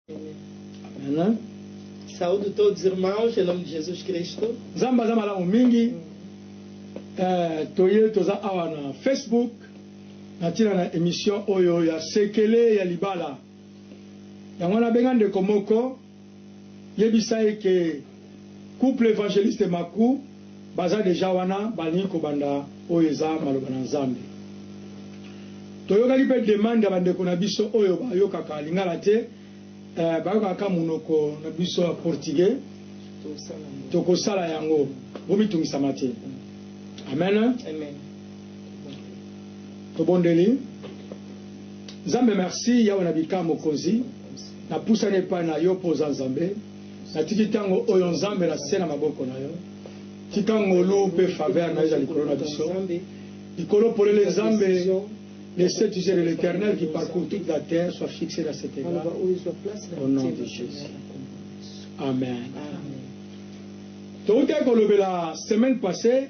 Amen. Saúdo todos os irmãos em nome de Jesus Cristo. Nzambe aza malamu mingi. Eh, toye toza awa na Facebook na ntina na emission oyo ya sekele ya libala. Yango wana abenga ndeko moko yebisa ye ke couple evangeliste Maku baza dejà wana balingi kobanda oyo eza maloba na Nzambe toyokaki pe demande ya bandeko na biso oyo bayokaka lingala te eh bayokaka kaka munoko na biso ya portugais tokosala yango bomitungisama te amen tobondeli Nzambe merci Yawe na bika mokonzi. Napusani epai na Yo mpo Oza Nzambe. Natiki ntango oyo, Nzambe, na se na maboko na Yo. Tika ngolu mpe faveur na Yo ezala likolo na biso. Likolo polele, Nzambe, laissez tu sais de l'Eternel qui parcourt toute la terre soit fixe dans cet etat, au nom de Jesus. Amen. Touta kolobela semaine passee.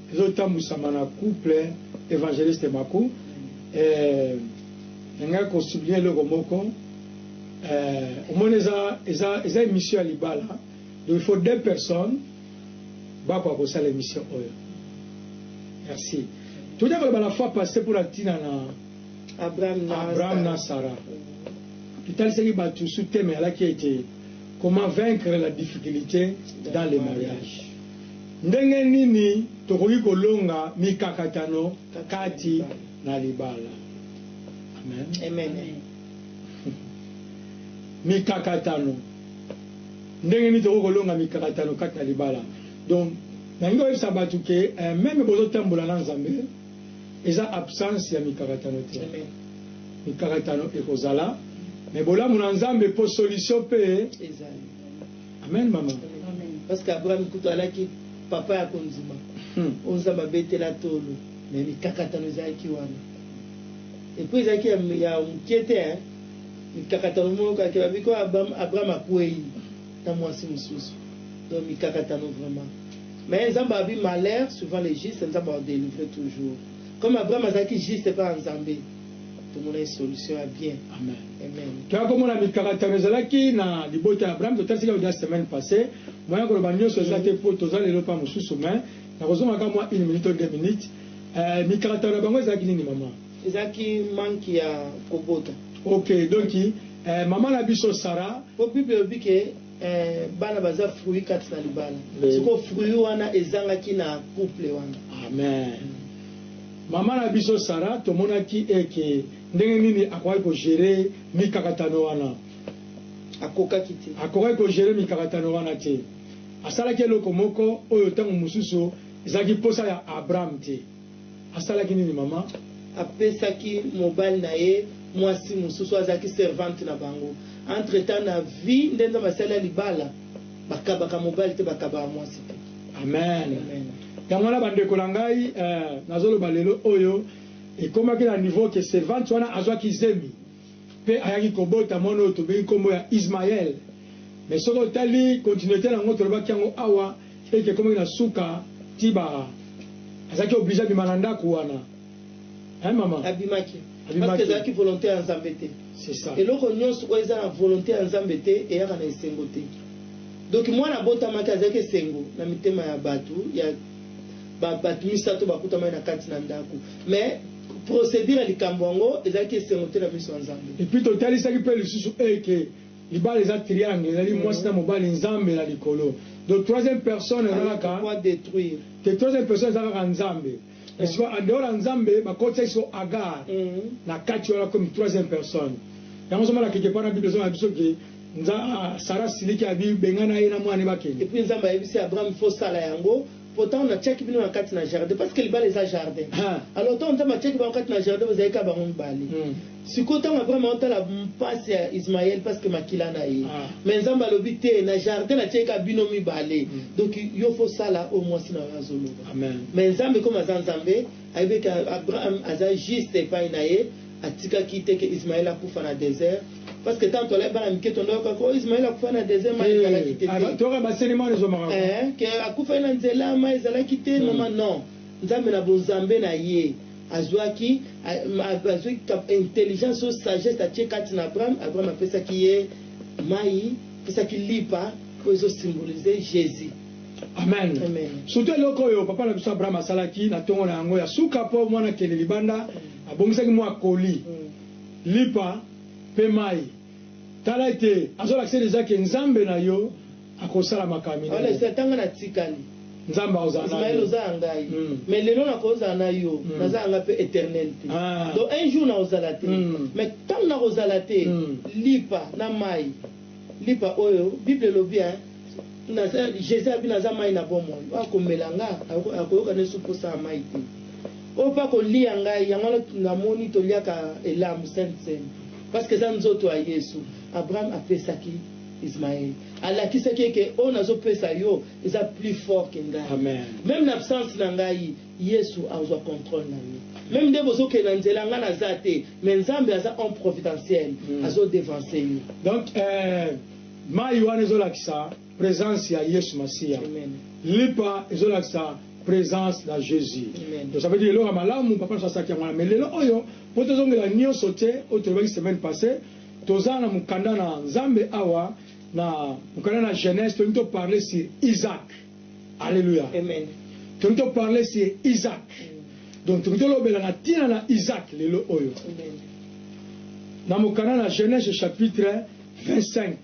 Ezo tambwisama na couple Evangeliste Maku eh, ngai ko souligner eloko moko eh, omoni eza, eza, eza emission ya libala donc il faut deux personnes bakoka kosala emission oyo. Merci. Toja koloba la fois passée mpo na tina na Abraham na, Abraham na Sarah. Tutalisaki bato sous thème alaki ete comment vaincre la difficulté dans le mariage. Ndenge nini tokoki kolonga mikakatano kati na libala? Amen. Mikakatano. Ndenge nini tokoki kolonga mikakatano kati na libala? Donc, nalingi koyebisa bato ke eh, meme bozotambola na Nzambe, eza absence ya mikakatano te. Mikakatano ekozala, mais bolamu na Nzambe po solution pe ezali. Amen maman parce que Abraham kutu alaki papa ya kondima oyo nzambe abetela tolo mais mikakatano ezalaki wana et puis ezalaki ya mukie te hein mikakatano moko kaka ke babi ko Abraham akueyi na mwasi mosusu donc mikakatano vraiment mais nzambe abi malheur suivant les juste nzambe ako delivrer toujours comme Abraham azalaki juste epa ya nzambe Tomonaki solution ya bien. Amen. Toya komona mikakatano ezalaki na libota ya Abraham, totalisi kaka dejà semaine passee. Moyen ya koloba nionso eza te po toza lelo epa mosusu mais nakozonga kaka mua une minute to deux minutes. Eh, mikakatano na bango ezalaki nini maman? Ezalaki manque ya kobota. Ok, donc eh, maman na biso Sarah. Po Bible elobi ke. Eeh bana baza fruit kati na libala sikoyo fruit wana ezangaki na couple wana. Amen maman na biso Sarah tomonaki eh ke ndenge nini akokaki ko gerer mikakatano wana? Akokaki te. Akokaki ko gerer mikakatano wana te. Asalaki eloko moko oyo tango mosusu ezalaki posa ya Abraham te. Asalaki nini mama? Apesaki mobali na ye mwasi mosusu, azalaki servante na bango. Entre temps na vie nde Nzambe asali ya libala, bakabaka mobali te, bakabaka mwasi te. Amen. Amen. Yango wana ba ndeko na ngai, eh, nazoloba lelo oyo, ekomaki na niveau que servante wana azwaki zemi. Mpe ayaki kobota mwana oyo tobengi nkombo ya Ismael. Mais soki otali continuite na yango, tolobaki yango awa, ete ekomaki na suka, ti ba, azalaki oblige abima na ndaku wana. Hein mama? Abimaki. Parce que ezalaki volonte ya Nzambe te. C'est ça. Eloko nionso oyo eza na volonte ya Nzambe te, eyaka na esengo te. Donc mwana abotamaki, azalaki esengo na mitema ya batu, ya ba batu misato bakutamaki na kati na ndaku. Mais. Procedure ya likambo yango ezalaki esengo te na miso ya Nzambe. Et puis totalisaki pe lisusu est que libala eza triangle, ezali mwasi na mobali, Nzambe na likolo. Donc troisième personne eza Alors kaka pourquoi detruire? te, troisième personne eza kaka Nzambe. Mais sikoyo en dehors ya Nzambe, bakotisaki sikoyo Agar na kati wana comme troisième personne. Yango ozomona quelque part na Bible ezoloba na biso que Nza, Sarah asiliki, abi, bengana ye na mwana na ye bakende. Et puis Nzambe ayebisi Abraham, faut osala yango. Pourtant na tiaki bino na kati na jardin parce que libala eza jardin alors tango nzambe atiaki bango kati na jardin bozalaki kaka bango mibale sikoyo tango après ma otala pasi ya ismael parce que makila na ye mais nzambe alobi te na jardin na tiaki kaka bino mibale donc yo faut sala oyo mwasi na yo azoloba mais nzambe comme aza nzambe ayebeka abraham aza juste epai na ye Atikaki te que Ismael akufa na desert parce que tango tolai bana mike tonda yoka que oh Ismael akufai na desert mai ezalaki te te eh que akufai na nzela mai ezalaki te maman non Nzambe na bonzambe na ye azuaki azuaki intelligence oyo sagesse atie kati na Abraham Abraham apesaki ye mai apesaki lipa oyo ezo symbolise Jesus. Amen. Amen. Surtout eloko oyo papa na biso Abraham asalaki na tongo na yango ya suka po mwana akende libanda. Abongisaki mua colis, lipa pe mayi. Tala ete azo lakisa dejà que Nzambe na yo akosala makambo minene. Wana esi ata nga na tikali. Nzambe akozala na yo. Ismael oza ya ngai mais lelo na ko zala na yo naza ya nga pe eternel te donc un jour na kozala te mais tango na kozala te lipa na mayi. Lipa oyo bible elobi hein naza jesus abi naza mayi na bomoi oyo akomela nga akoyoka nesu posa ya mayi te oyo pe akoliya ngai yango wana namoni toliaka elambu sainte seine parce que eza nzoto ya yesu abraham apesaki ismael alakisaki ye ke oyo nazo pesa yo eza plus fort ke ngai meme na absence na ngai Yesu azua controle na vie. Meme nde bozo kende na nzela nga naza te mais nzambe aza homme providentiel azo devancer yo. Donc eeh mayi wana ezo lakisa presence ya yesu masiya lipa ezo lakisa presence na jesus donc ça veut dire eloko ya malamu papa na biso asalaki yango wana mais lelo oyo po to zongela nioso te oyo tolobaki semaine passe toza na mukanda na nzambe awa na mukanda na genese tolingi to parle sur isaac Alleluia Amen Tolingi to parler sur Isaac Donc tolingi tolobela na tina na Isaac lelo oyo Amen Na mokanda na Genese chapitre 25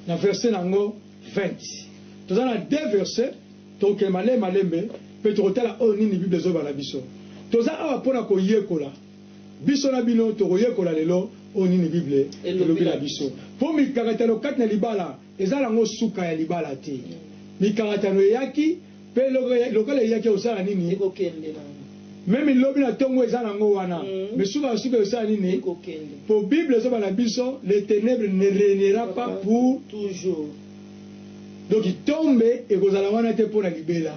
na verset na yango 20 Toza na deux versets tokokende malembe malembe pe tokotala oyo nini bible ezoloba na biso Toza awa pona koyekola Biso na bino tokoyekola lelo oyo nini bible elobi na biso Po mikakatano kati na libala Eza nango suka ya libala te. Mikakatano eyaki pe lokola eyaki ekosala nini? Ekokende nango. Meme lobi na tongo eza nango wana mais suka na suka ekosala nini? Ekokende. Po bible ezoba na biso les tenebres ne reignera pas pour toujours. Donc tombe ekozala wana te pona libela.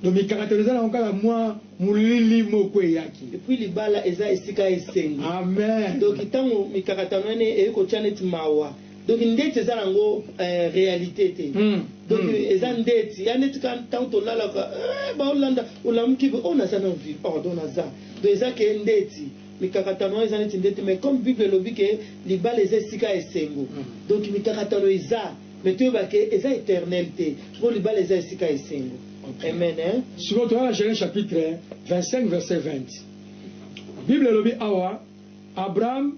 Donc mikakatano eza nango kaka mua molili moko eyaki. Et puis libala eza esika ya esengo. Amen. Donc tango mikakatano ena eyekotia neti mawa. Donc ndeti eza nango eh, realite te mm. Donc mm. eza ndeti ya ndeti ka ntango tolalaka eh, baolanda olamuki o oh, naza na vie pardon naza donc eza ke ndeti mikakatano wana eza neti ndeti mais comme bible elobi ke libala eza esika esengo mm. donc mikakatano eza mais toyeba ke eza éternel te mpo libala eza esika esengo okay. amen eh? sikoyo toyala genèse chapitre 25 verset 20 bible elobi awa abraham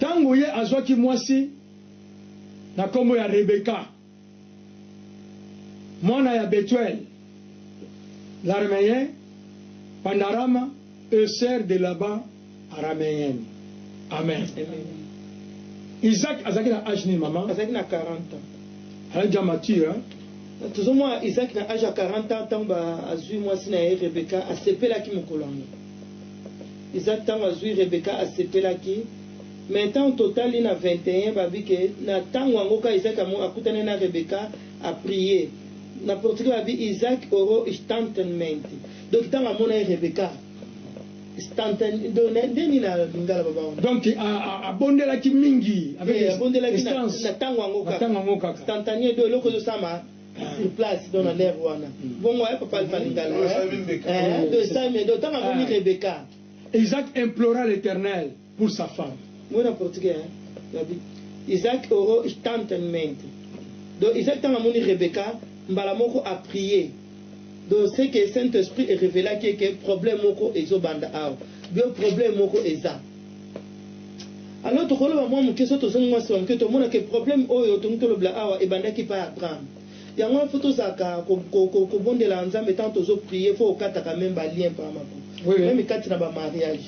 Tango ye azwaki mwasi na kombo ya Rebeka, mwana ya Bethuel, l'Arameyen, Pandarama, et soeur de Laban, Arameenne. Amen. Isaac azalaki na age nini maman? Azalaki na 40 ans. Azalaki dejà mature hein? Tozomona Isaac na age ya 40 ans tango ba azui mwasi na ye Rebeka, asepelaki mokolo yango. Isaac tango azui Rebecca asepelaki mais tango totali na 21 babi ke na tango yango ka Isaac akutani na Rebecca a prier na portugais babi Isaac oro istantanment donc tango amonaki Rebecca stantan donc na nde nini na lingala baba wana donc abondelaki mingi avec instance na tango yango kaka instantanee donc eloko ezo salama sur place donc na l'heure wana bongo eh papa alpha lingala eh to esami donc tanga moni ah. Rebecca Isaac implora l'Éternel pour sa femme moi na portugais hein la Bible Isaac oro tantement donc Isaac tanga moni Rebecca mbala moko a prier donc c'est que Saint-Esprit est révélé que problème moko ezo banda awa bio problème moko eza Alors tokoloba mwa moke soki tozongi mwa sima moke tomona ke probleme oyo tolingi tolobela awa ebandaki epai ya Abraham. Yango wana faut tozalaka kobondela Nzambe tango tozo prier faut okataka meme ba lien pa mako meme kati na ba mariage.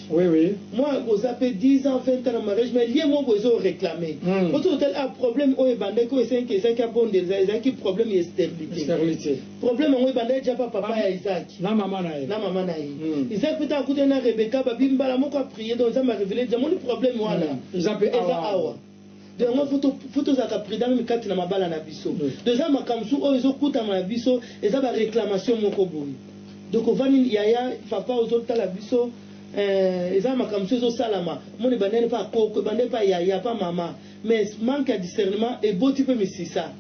Mwa oza pe 10 ans 20 ans na mariage mais lien moko boye ezo o reclamer po soki otali awa probleme oyo ebandaki oyo esengaki ezalaki abondela ezalaki probleme ya esterilite. Problème yango ebandaki dejà pa papa ya Isaac na maman na ye. Na maman na ye. Isaac pe tango akutani na Rebecca ba bimi mbala moko a prier donc Nzambe a reveler dejà omoni problème wana eza pe awa. Donc yango faut to faut tozalaka prudent meme kati na mabala na biso. Donc eza makambo mosusu oyo ezo kutama na biso eza ba reclamation moko boye donc ovandi yaya papa ozo tala biso eeh eza makambo mosusu ezo salama omoni ebandaki depa koko ebandaki pa yaya pa maman Mais manque ya discernement eboti pe misisa.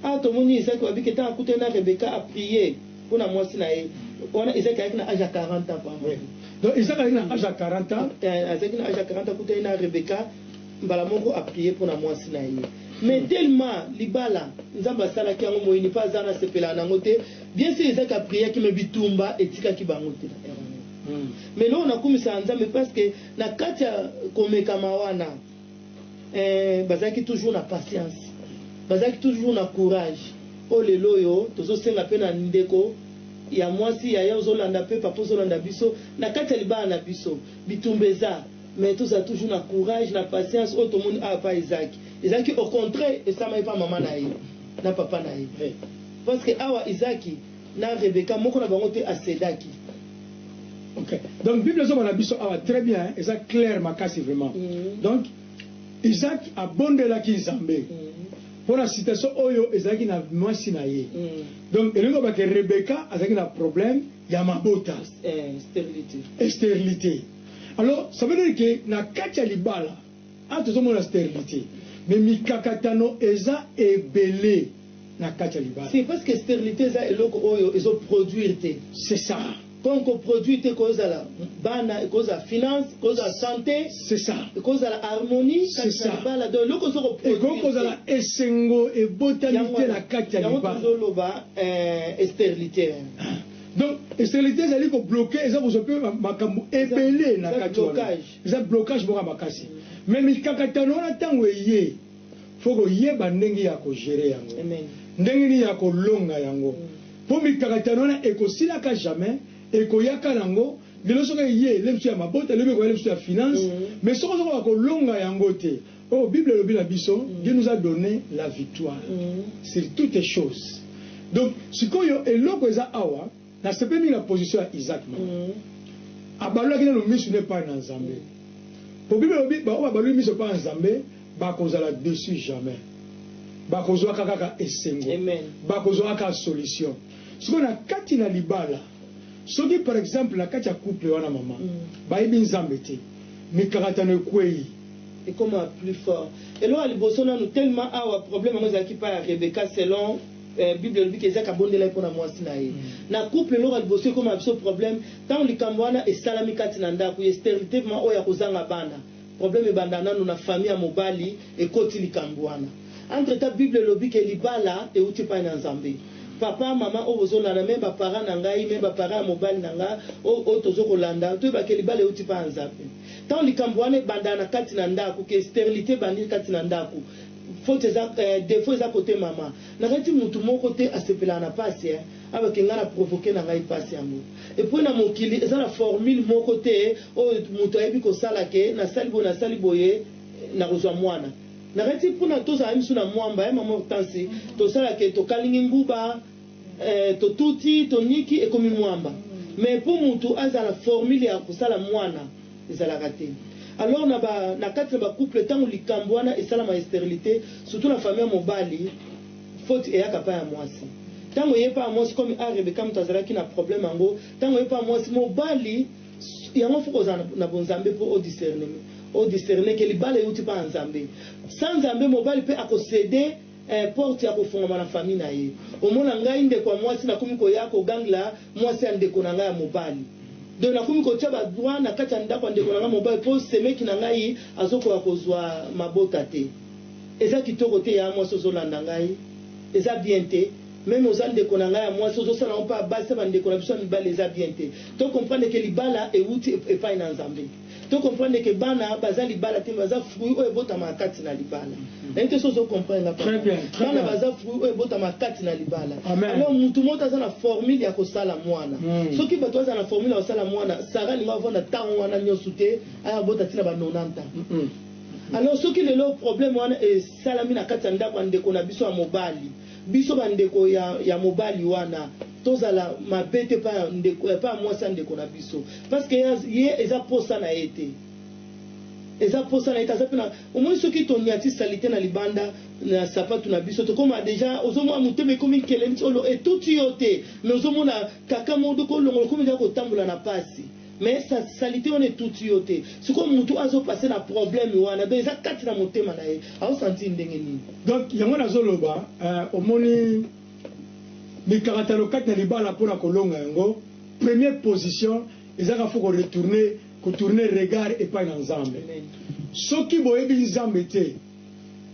Awa tomoni Isaac wabike tango akutani na Rebecca a prier pona mwasi na ye wana Isaac ayaki na age ya 40 ans pamba. Oui donc Isaac ayaki na age ya 40 ans. Azalaki na age ya 40 ans akutani na Rebecca mbala moko a prier pona mwasi na ye mais tellement libala Nzambe asalaki yango moyini pe aza wana asepelaka na yango te bien sur Isaac a priaki mais bitumba etikaki bango te na erreur mais eloko nakumisaka Nzambe parce que na kati ya komekama wana eh, bazalaki toujours na patience bazalaki toujours na courage oyo lelo oyo tozosenga mpe na ndeko ya mwasi yaya ozolanda mpe papa ozolanda biso na kati ya libala na biso bitumba eza mais tozala toujours na courage na patience oyo tomoni awa ah, pa ezaki ezalaki au contraire esamaki mpa mama na ye na papa na ye parce que awa ezaki na Rebecca moko na bango te asedaki. Ok donc bible ezo bana biso awa très bien eza claire makasi vraiment mm -hmm. donc Isaac abondelaki Nzambe mm -hmm. pona situation oyo ezalaki na mwasi na ye mm -hmm. donc elingi koloba ke Rebecca azalaki na problème ya mabota eh, sterilité. sterilité alors ça veut dire que na kati ya libala Awa tozo mona sterilite mais mikakatano eza ebele na kati ya libala. Si parce que sterilite eza eloko oyo ezo produire te. C'est ça. Comme ko produire te eko zala bana, eko zala finance, eko zala sante. C'est ça. Eko zala harmonie kati na libala donc eloko ozo ko produire te. Ekoki kozala esengo ebotami te na kati ya libala. Yango tozo loba eh sterilite eh. Donc sterilite ezali ko bloquer, eza kozwa pe makambu ebele na kati wana. Eza blocage moko ya makasi mais mikakatano wana tango eye faut koyeba ndenge ya ko gerer yango ndenge nini ya kolonga yango po mikakatano wana ekosilaka jamais ekoyaka nango lelo soki eye lemsu ya mabota lobi ekoya lemsu ya finance mais soki ozokoka kolonga yango te oyo bible elobi na biso Dieu nous a donne la victoire sur toutes choses donc sikoyo eloko eza awa Na sepeli mingi na position ya Isaac Malanga. Abalolaki nanu misu ne epayi na Nzambe. Po Bible elobi ba oyo babaloli misu epayi ya Nzambe bakozala deçu jamais. Bakozuaka kaka esengo. Bakozuaka kaka solution. Sikoyo na kati na libala, soki par exemple na kati ya couple wana mama, bayebi Nzambe te, mikakatano ekueyi. Ekoma plus fort. Eloko ya liboso nanu tellement awa problème yango ezalaki epayi ya Rebecca selon. Eh bible elobi ke Isaac abondelaki pona muasi na ye. Na couple eloko ya liboso ekomaka biso probleme tango likambo wana esalami kati na ndaku ye sterilitement oyo ya kozanga bana probleme ebandaka nanu na famille ya mobali ekoti likambo wana entre temps bible elobi ke libala ewuti epai na nzambe papa maman oyo bozo landa meme ba parents na ngai meme ba parents ya mobali na nga oyo oyo tozo kolanda toyeba ke libala ewuti epai ya nzambe tango likambo wana ebandaka na kati na ndaku ke sterilite ebandi kati na ndaku Faute eza eh defaut eza cote mama nakati mutu moko te asepelaka na pasi eh alors que nga na provoque na ngai pasi yango et puis na mokili eza na formule moko te oyo mutu ayebi kosala que nasali boye nasali boye nakozua muana nakati pona tozala misu na muamba eh mama Hortense tosala que tokalingi nguba Eh totuti toniki ekomi muamba mais po mutu azala formule ya kosala muana ezalaka te alors na ba na kati na ba couple tango likambu wana esalama ya sterilite surtout na famille ya mobali faute eyaka pa ya muasi tango eye pa ya muasi comme a Rebecca mutu azalaki na problème yango tango eye pa ya muasi mobali yango faut kozala na bonzambe po o discerne o discerne ke libala ewuti pa ya Nzambe sans Nzambe mobali pe ako cede eh porte ya kofongama na famille na ye omona ngai ndeko ya mwasi nakomi koya ko gangla mwasi ya ndeko na ngai ya mobali donc nakomi kotia ba droit na kati ya ndako ya ndeko na ngai mobali po semeki na ngai azokoka kozua mabota te eza kitoko te ya mwasi ozolanda ngai eza bien te meme oza ndeko na ngai ya mwasi ozosala ngo pa basi ya bandeko na biso ya mibali eza bien te to comprendre ke libala ewuti epai na nzambe To comprendre que bana baza libala te mais baza fruit oyo ebotamaka kati na libala. Nayebi te soki ozo comprendre nga Très papa. bien, très Bana bien. baza fruit oyo ebotamaka kati na libala. Amen. Alors mutu moko te aza na formule ya kosala mwana. Mm. Soki bato bazala na formule ya kosala mwana, Sarah alingi avanda tango wana nionso te, aya abota ti na ba 90 ans. Mm-mm. Alors soki lelo problème wana esalami na kati ya ndako ya ndeko na biso ya mobali, Biso ba ndeko ya ya mobali wana tozala mabe te epa ndeko epa mwasi ya ndeko na biso parce que ye eza posa na ye te eza posa na ye te aza pe na omoni soki toniati salite na libanda na sapatu na biso tokoma deja ozomona motema ekomi nkele neti olo etuti yo te mais ozomona kaka modoko olongola okomi deja kotambola na pasi Mais sa salite wana etuti yo te sikoyo mutu azo passe na problème wana donc eza kati na motema na ye azo sentir ndenge nini? Donc yango nazo loba eh, omoni mikakatano kati na libala mpona kolonga yango premier position ezaka faut ko retourner ko tourner regard epai na Nzambe Amen. soki boyebi Nzambe te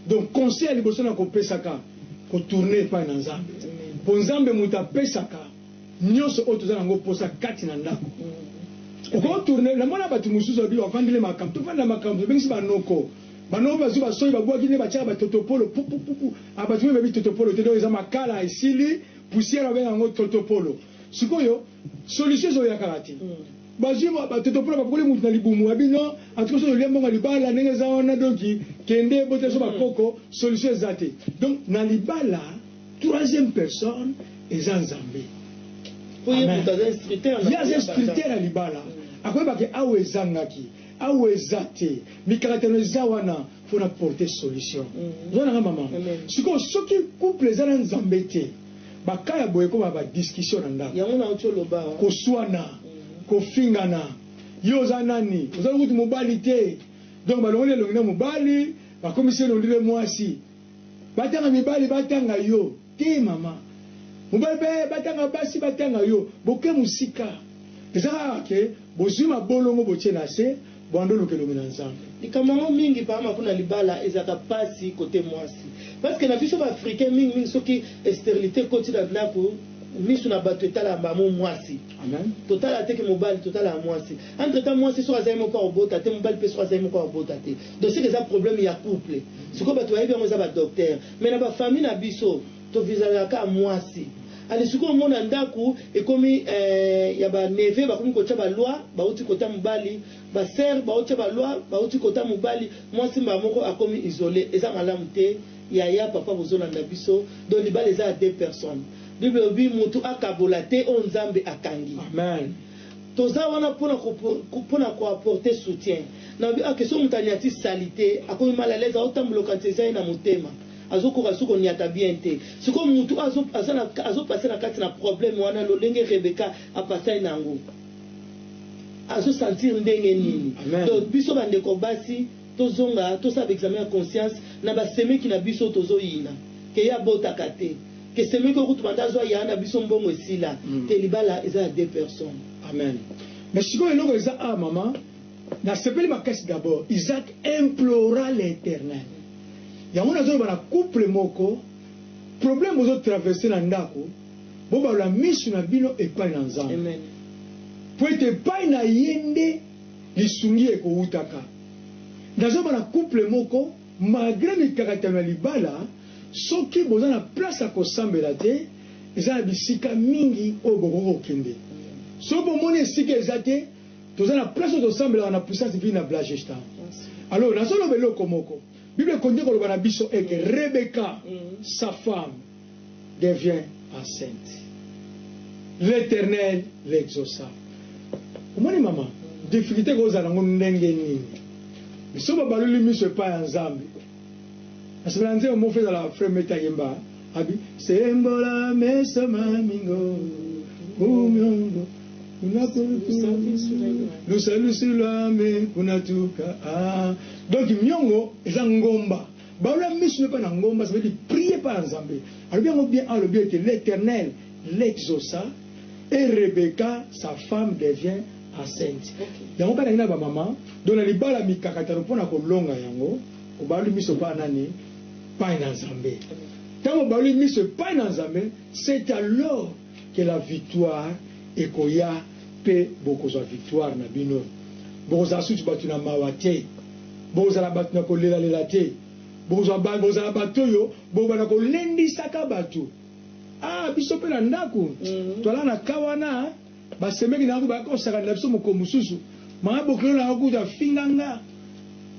donc conseil ya liboso na kopesaka ko tourner epai na Nzambe Amen. mpo Nzambe moto apesaka Nionso oyo toza na ngo posa kati na ndako oko tourne na mona batu mususu babi ba vandele makambo to vandela makambo tobengisi ba noko ba noko bazui ba soyi ba buaki nde batiaka ba totopolo pupupupu ah batu mingi bayebi totopolo te donc eza makala esili poussière ba benga ngo totopolo sikoyo solution ezo ya kaka te bazui ba totopolo ba pakoli mutu na libumu abi non en tout cas soki olia mbongo ya libala ndenge eza wana donc kende botela biso ba koko solution eza te donc na libala Troisième personne eza Nzambe. Po ye mutu aza instructeur na. Ye aza instructeur ya libala. Akoyeba ke awa ezangaki, awa eza te, mikakatano eza wana po na porter solution. Oza na nga mama? Sikoyo soki couple eza na Nzambe te, ba cas ya boye ekoma ba discussion na ndako. Yango nauti oloba. Koswana, kofingana, yo oza nani? Oza kutu mobali te. Donc balongoli elongi na mobali, bakomisi ye on dirait muasi. Batanga mibali batanga yo te maman mobali pe batanga basi batanga yo boke musika eza kaka ke bozui mabolongo botie nase buando luka elongi na nzambe. Likambo yango mingi papa maku na libala ezalaka pasi cote muasi parce que na biso ba africain mingi mingi soki esterilite ekoti na ndaku misu na batu etalaka bango muasi totalaka te ke mobali totalaka muasi entre temps muasi soki aza ye moko ako bota te mobali pe soki aza ye moko ako bota te Dossier eza problème ya couple sikoyo batu bayebi yango eza ba docteur mais na ba famille na biso to visalaka kaka muasi allez sikoyo omona ndaku ekomi eh, ya ba neve bakomi kotia ba loi bauti kota mobali ba sœur baotia ba loi bauti kota mobali muasi mbala moko akomi isole eza malamu te yaya papa bozolanda biso donc libala eza ya deux personnes bible elobi mutu akabola te oyo nzambe akangi Amen. Toza wana pona ko pona ko apporter soutien na ah que soki mutu aniati salite akomi mal à l'aise azo tambola okanisa eza ye na motema azo koka lisusu ko niata bien te sikoyo mutu oyo aza na azo passer na kati na problème wana lolenge Rebecca a passai nango azo sentir ndenge nini donc biso ba ndeko basi Tozonga tosala ba examen ya conscience na ba semeki na biso tozo yina que ye abotaka te que semeki oyo kutu banda azua yaya na biso mbongo esila te libala eza ya deux personnes. Amen mais sikoyo eloko eza awa maman na sepeli makasi d'abord Isaac implora l'eternel yango nazo loba na couple moko problème bozo traverse na ndaku bo balola misu na bino epayi na nzambe Amen. po ete epayi na ye nde lisungi ekowutaka. Naza ba na couple moko malgre mikakatano ya libala soki boza na place ya kosambela te eza na bisika mingi oyo bokoki kokende soki bomoni esika eza te toza na place oyo tosambelaka na puissance divine na Blagesta alors nazoloba eloko moko bible ekonde koloba na biso eke Rebecca sa femme devient enceinte l'eternel l'exausa omoni mama difficulté kozala nango ndenge nini biso babaloli miso epai ya nzambe nasepela nzembo moko ezala frère meta yemba abi sembola meso mamingo umiongo lusalusu lwame kunatuka ah. donc miongo eza ngomba Baola misu epa na ngomba ça veut dire prie epa ya nzambe alobi yango bien awa alobi ete l'eternel l'exauca et Rebecca sa femme devient enceinte yango bana nina ba mama donc na libala mikakatano pona kolonga yango obaoli misu epa nani epai na nzambe tango obaoli misu epai na nzambe c'est alors que la victoire ekoya pe bokozwa victoire na bino bokozala susu batu na mawa te bokozala batu na kolela lela te bokozwa ba bokozala batu oyo bokobanda kolendisaka batu ah biso pe na ndaku toalala na cas wana ba semeki na yango bayaka kosakanela biso mokolo mosusu maman bokilo na yango kutu afinga nga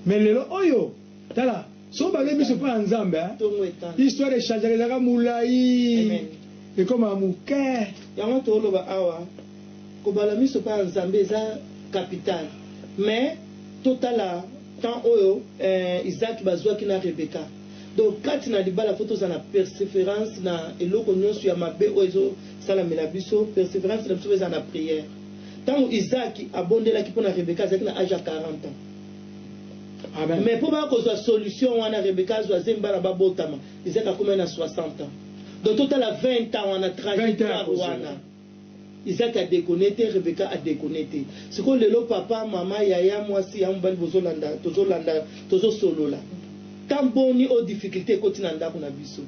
mais lelo oyo Tala soki obangi miso epai ya Nzambe, histoire echangeaka, ezalaka molai ekomaka moke. Yango toloba awa, kobala miso epai ya Nzambe eza capital. Mais totala temps oyo Isaac bazuaki na Rebecca. Donc kati na libala faut tozala na perseverance na eloko nionso ya mabe oyo ezo salamela biso, perseverance na biso faut ezala na prière. Tango Isaac abondelaki pona Rebecca azalaki na age ya 40 ans. mais po baya kozua solution wana Rebecca azua zemi bana ba botama Isaac akomaki na 60 ans donc totala 20 ans wana trajectoire wana Isaac a deconne te Rebecca a deconne te sikoyo lelo papa maman yaya muasi yaya mobali bozolanda tozolanda tozosolola temps boni oyo difficulte ekoti na ndako na biso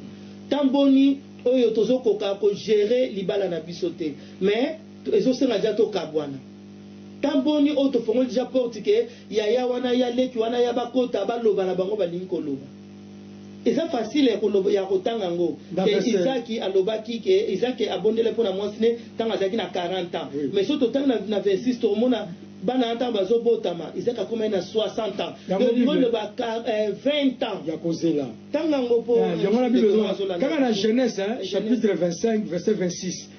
temps boni oyo tozokoka ko gerer libala na biso te mais ezosenga deja tokabwana Temps boni oyo tofongoli dejà porte que yaya wana ya leki wana ya bakota baloba na bango balingi koloba. Eza facile ya kotanga yango que Isaki alobaki que Isaki abondelaki pona mwasi ne tango azalaki na 40 ans mais soki totangi na 26 tokomona bana wana tango bazo botama Isaki akomaki na 60 ans donc olingi oloba 20 ans ya kozela tanga yango po ndeko na nga azo landa. Kaka na Genese chapitre 25 verset 26.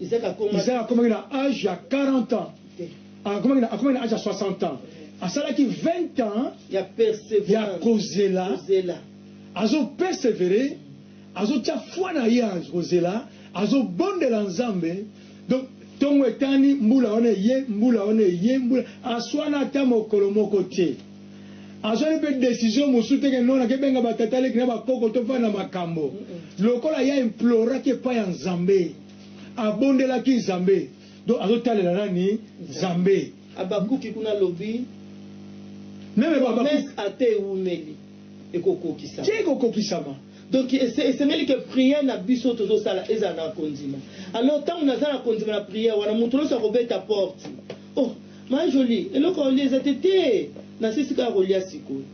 Isaac akomaki na age ya 40 ans, akomaki na akomaki na age ya 60 ans, asalaki 20 ans ya perseverance ya kozela, kozela. azo perseverer, azo tia foi na ye kozela, azo bondela Nzambe donc tongo etani mbula wana eye mbula wana eye mbula aswana ata mokolo moko te. Azwaki mpe decision mosusu te que non nake benga ba tata leki na ba koko to fanda na makambo. Lokola ye a imploraki epai ya Nzambe, abondelaki Nzambe, donc azo talela nani? Nzambe. Habakuki kuna alobi Meme ba Habakuki. promesse ata ewumeli ekokokisama. Tiens ekokokisama. Donc esengeli que prière na biso oyo tozo sala ezala na kondima. Alors tango naza na kondima na prière wana mutu nionso akobeta porte oh. Ma jolie eloko ya olia eza te te nasilisi kaka kolia sikoyo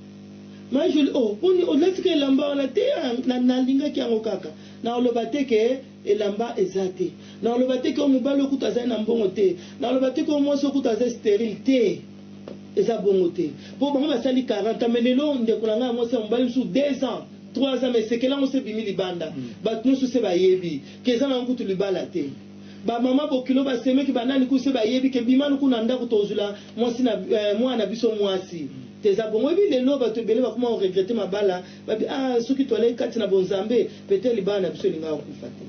ma jolie oh boni olati ka elamba wana te na nalingaki yango kaka nakoloba te ke elamba eza te nakoloba te ke oyo mobali oyo kutu azali na mbongo te nakoloba te ke oyo mwasi oyo kutu aza sterile te eza bongo te po bango basali 40 ans mais lelo ndeko na ngai ya mwasi ya mobali mosusu 2 ans 3 ans mais sekele yango se ebimi libanda bato nyonso se bayebi ke eza na yango kutu libala te Ba maman bokilo ba semeki ba nani kusu ba yebi ke bima luku na ndaku tozula mwasi na eh mwana na biso mwasi te eza bongo oyebi lelo batu ebele bakoma ko regrette mabala ba bi ah soki toalaki kati na bonzambe peut etre libala na biso elingaka kokufa te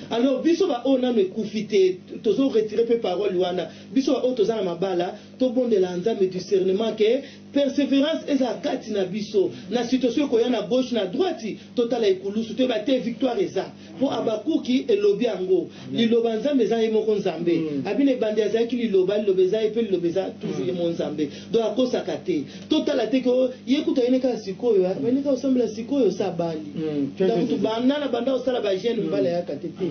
alors biso ba oyo nanu ekufi te tozo retire pe parole wana biso ba oyo toza na mabala tobondela nzambe discernement ke Perseverance eza kati na biso na situation ekoya na gauche na droite totala ekulusu toyeba te victoire eza po habakuki elobi yango liloba nzambe eza ye moko nzambe abina ebandeli azalaki liloba liloba eza ye pe liloba eza toujours ye moko nzambe donc akosaka te totala te ke ye kutu ayine kaka sikoyo abandi kaka kosambela sikoyo osi abali nda kutu banda na banda kosala ba jeune mbala ayaka te te.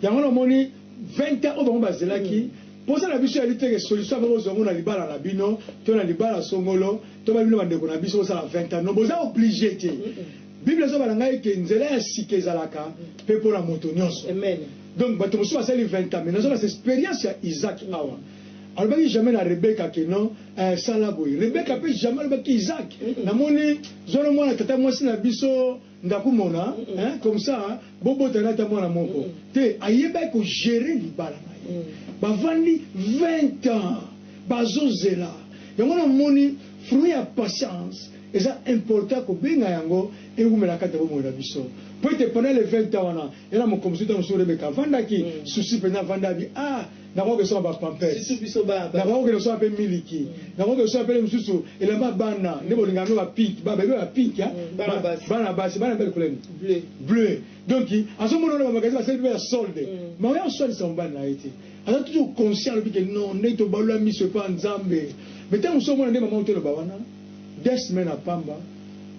Yango na omoni 20 ans oyo bango bazelaki. Posa na biso eyali te ke solution ya bokozwa ngo na libala na bino to na libala songolo to ba bino ba ndeko na biso bosala 20 ans. Non, boza oblige te. Bible ezo bala ngai ke nzela ya sika ezalaka pe pona moto nionso. Donc bato mosusu basali 20 ans mais nazo lakisa experience ya Isaac awa. Alobaki jamais na Rebecca ke non eh sala boye. Rebecca pe jamais alobaki Isaac na moni zolo mwana tata mwasi na biso. Ndakumona hein comme ça bo bota nata mwana moko te ayebaki ko gerer libala na ye ba vandi 20 ans bazo zela yango na moni fruit ya patience eza important ko benga yango ewumela kati ya bomoi na biso po ete pendant les 20 ans wana ye na mokomzuta mosusu remeka avandaki souci penza avandaki ah nakoki kosomba ba pampers, nakoki kokende kosomba mpe miliki, nakoki kosomba mpe mosusu elamba ya bana. Nde bolinga yango ba pink, ba bebe ba pink, bana basi, bana mpe couleur nini? Bleu. Donc azomona wana ba magasin basali mpe ya solde, mais oya kosalisa mobali na ye te. Aza toujours conscient, alobi que non, nde tobalola miso epa Nzambe. Mais tango mosusu omona nde mama otoloba wana. Deux semaines ya pamba,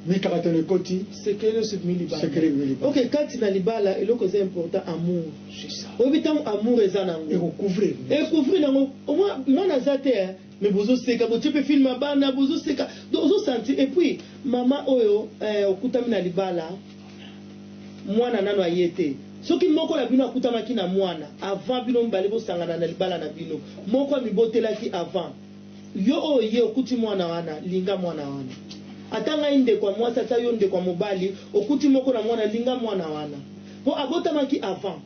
mikakatano ekoti. Secret nionso ebimi libanda. Secret ebimi libanda. Ok, kati na libala eloko eza important amour. C'est ça. Oyebi tango amour eza na ngo. Eko couvrir. E couvrir na ngo. Omona mwana aza te hein, mais bozo seka, botie pe film ya bana, bozo seka. Donc ozo sentir. Et puis mama oyo eh, okutami na libala, mwana nanu aye te. Soki moko na bino akutamaki na mwana avant bino mibale bosangana na libala na bino, moko amibotelaki avant. Yo oyo ye okuti muana wana linga muana wana ata ngai ndeko ya muasi ata yo ndeko ya mobali okuti moko na muana linga muana wana po abotamaki avant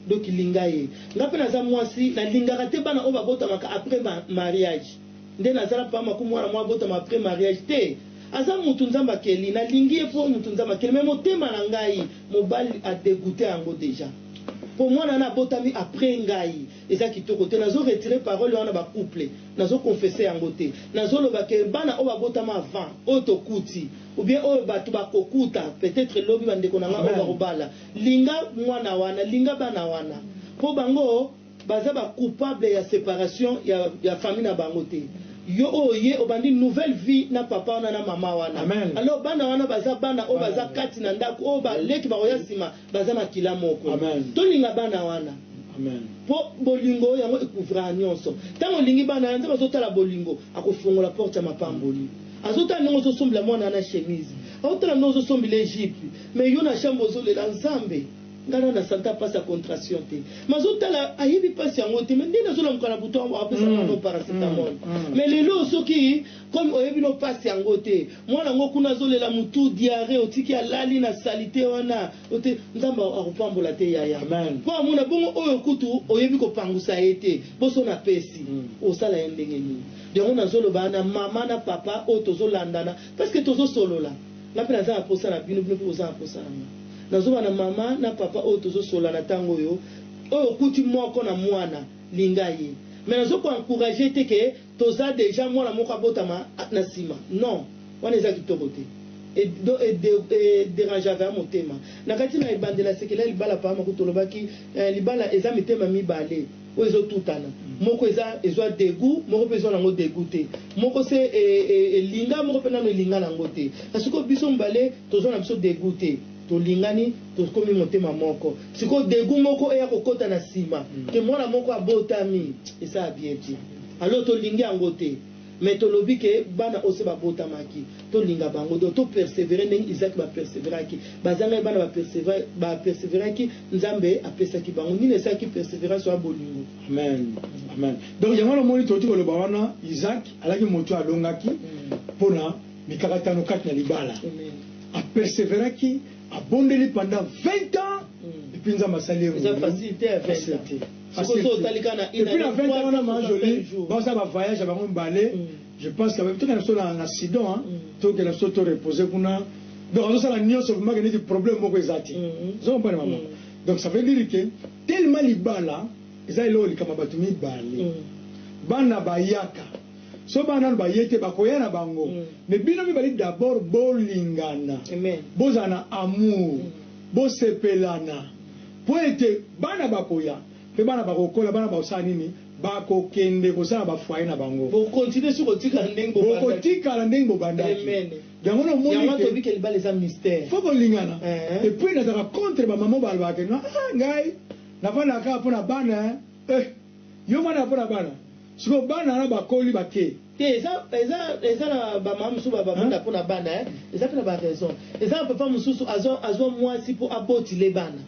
donc linga ye ngai pe naza muasi na lingaka te bana oyo ba botamaka apres mariage nde naza na pama ku muana moye abotama apres mariage te aza mutu nzambe akeli na lingi ye po mutu nzambe akeli mais motema na ngai mobali a degoute yango deja po muana wana abotami apres ngai. Eza kitoko te nazo retire parole wana ba couple nazo confesse yango te nazo loba que bana oyo ba botama avant oyo tokuti ou bien oyo batu ba kokuta peut etre lobi ba ndeko na nga oyo bako bala linga muana wana linga bana wana po bango baza ba coupable ya separation ya ya famille na bango te yo oye obandi nouvelle vie na papa wana na maman wana alors bana wana baza bana oyo baza kati na ndaku oyo ba leki bakoya sima baza makila moko Amen. tolinga bana wana Amen. po bolingo yango ekuvraka nyonso ntango olingi bana wana nzambe azotala bolingo akofongola porte ya mapamboli azotala ndenge ozosombela mwana wana chemise aotala ndenge ozosombela ejipe me yo na chambre ozolela nzambe ngai na na santa mpasi ya contraction te ma azotala ayebi mpasi yango te me nde nazolamuka na butu apesa mwana paracetamol me lelo soki Comme oyebi no pasi yango te mwana yango kuna azo lela mutu diarrhee otiki alali na salite wana ote nzambe akopambola te yaya po amona bongo oyo kutu oyebi kopangusa ye te boso na pesi osala ye ndenge nini yango nazo loba na maman na papa oyo tozo landana parce que tozo solola nga pe naza na posa na bino bino pe boza na posa na nga nazo loba na maman na papa oyo tozo solola na tango oyo oyo okuti moko na mwana linga ye mais nazo ko encourager te ke Toza dejà mwana moko abotama na sima non wana eza kitoko te e derangeaka motema na kati na ebandela sekele ya libala papa makuta olobaki eh libala eza mitema mibale oyo ezo tutana moko eza ezua degout moko pe ezua nango degout te moko se elinga moko pe nanu elinga nango te na sikoyo biso mibale tozua na biso degout te tolingani Tokomi motema moko sikoyo degout moko eya kokota na sima que mwana moko abotami esa bien te alors tolingi yango te mais tolobi que bana oyo se babotamaki tolinga bango donc to perseverer ndenge Isaac ba perseveraki bazangaki bana ba persevere ba perseveraki Nzambe apesaki bango nini esalaki perseverance oya bolingo. Amen amen donc yango wana omoni tokoki koloba wana Isaac alaki moto oyo alongaki pona mikakatano kati na libala a perseveraki abondeli pendant 20 ans et puis nzambe asali ye mutu facile te ya 20 ans facile te et puis na 20 ans wana ma jolie baza ba voyage ya bango mbale je pense que toke na so na na sidon hein toke na so to reposer kuna donc azo sala nionso vraiment que neti problème moko eza te zo mbana maman donc ça veut dire que tellement libala eza eloko likama batu mibale bana bayaka soki bana nanu baye te bakoya na bango mm. mais bino mibali d'abord bolingana bozala na amour mm. bosepelana mpo ete bana bakoya mpe bana bakokola bana bakosala nini bakokende kosala bafoye na bango bokotikala ndenge bobandaki yango namonifo kolingana eh. epuis nazalaka contre bamama balobaka ah, ngai nafandaka kaka mpo na bana eh. Yo mwana ya pona bana sikoyo bana wana bakoli bake. Te eza eza eza na ba mama mususu ba vanda pona bana hein eza pe na ba raison eza na papa mususu azua azua muasi po aboti le bana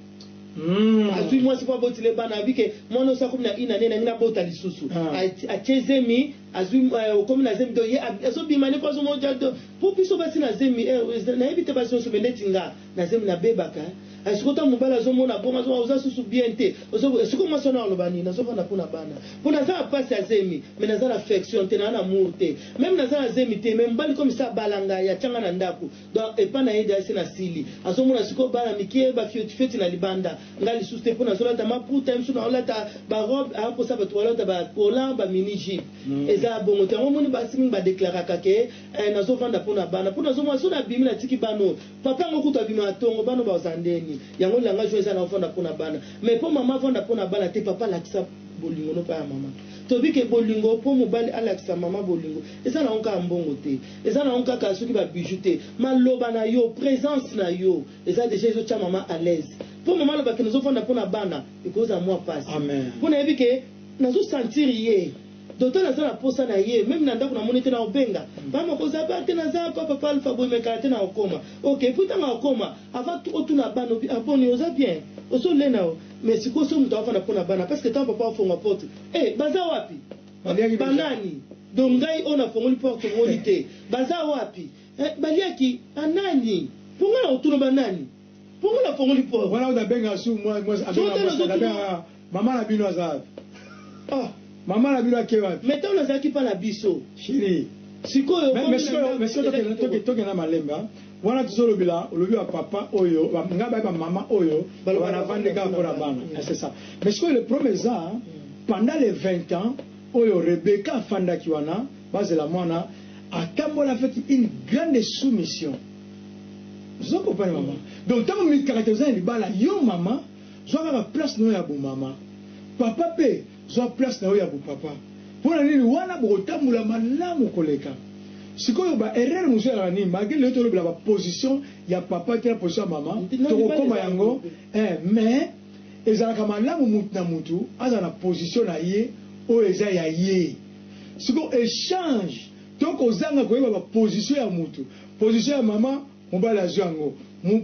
Hum azui muasi po aboti le bana abi ke muana osi akomi na une annee nalingi nabota lisusu Ah. A- atie zemi azui eh, okomi na zemi donc ye ab- azo bima ne po azo moja donc po biso basi na zemi eh, nayebi te basi nioso mais neti nga Na zemi na bebaka hein. Eh sikoyo tango mobali azo mona bongo azo oza susu bien te ozo eh sikoyo mwasi wana aloba nini nazo vanda pona bana po naza na pasi ya zemi mais naza na affection te naza na amour te meme naza na zemi te mais mobali comme ça abala ngai atia ngai na ndaku donc epa na ye deja esi na sili azo mona sikoyo bana mikie ba fioti fioti na libanda ngai lisusu te po nazo lata maputa ye mosusu na olata ba robe a kosa bato balata ba collant ba mini jupe mm. eza bongo te yango moni basi mingi ba declaraka ke eh, nazo vanda pona bana po nazo mona so na bimi na tiki bana Papa yango kutu abima na tongo bana baza ndeni yango langage oyo eza na ofanda pona bana mais po maman avanda pona bana te papa alakisa bolingo no pa ya maman tobi ke bolingo po mobali alakisa maman bolingo eza na onka ya mbongo te eza na onka ka soki ba bijoux te maloba na yo presence na yo eza deja ezo tia maman alaise po maman aloba ke nozo fanda pona bana ekoza mua pasi pona yebi ke nazo sentir ye Doto naza na posa na ye meme na ndaku na moni te nako benga maman okoza ba te naza awa papa alpha boye mais kala te nako koma ok epuis tango ako koma avant tout otuna bana obi ah boni oza bien ozo lena oh mais sikoyo soki mutu avanda pona bana parce que tango papa afonga porte eh baza wapi ba nani donc ngai oyo na fongoli porte omoni te baza wapi eh baliaki ah nani po ngai nako tuna ba nani Pourquoi na fongoli port? Wana oyo na benga su moi moi azo na moi na benga maman na bino aza wapi? Ah maman na bino ake wapi? Mais tango nazalaki pa na biso. Cheri. Sikoyo mais mais sikoyo mais sikoyo toke toke toke na malembe hein. Wana tozo lobela olobi ba papa oyo ba nga ba ba maman oyo ba na vandi ka ko na bana. C'est ça. Mais sikoyo le problème eza pendant les 20 ans oyo Rebecca afandaki wana Bazela muana atambola avec une grande soumission ozo comprendre maman donc tango mikakate oza na libala yo maman zwa kaka place nayo ya bo maman papa pe zwa place nayo ya bo papa pona nini wana bokotambola malamu koleka sikoyo ba erreur mosusu ezalaka nini malgre lelo tolobela ba position ya papa te na position ya maman tokokoma yango eh mais ezalaka malamu mutu na mutu azala na position na ye oyo eza ya ye Sikoyo echange to kozanga koyeba ba position ya mutu, position ya maman mobali azwi yango,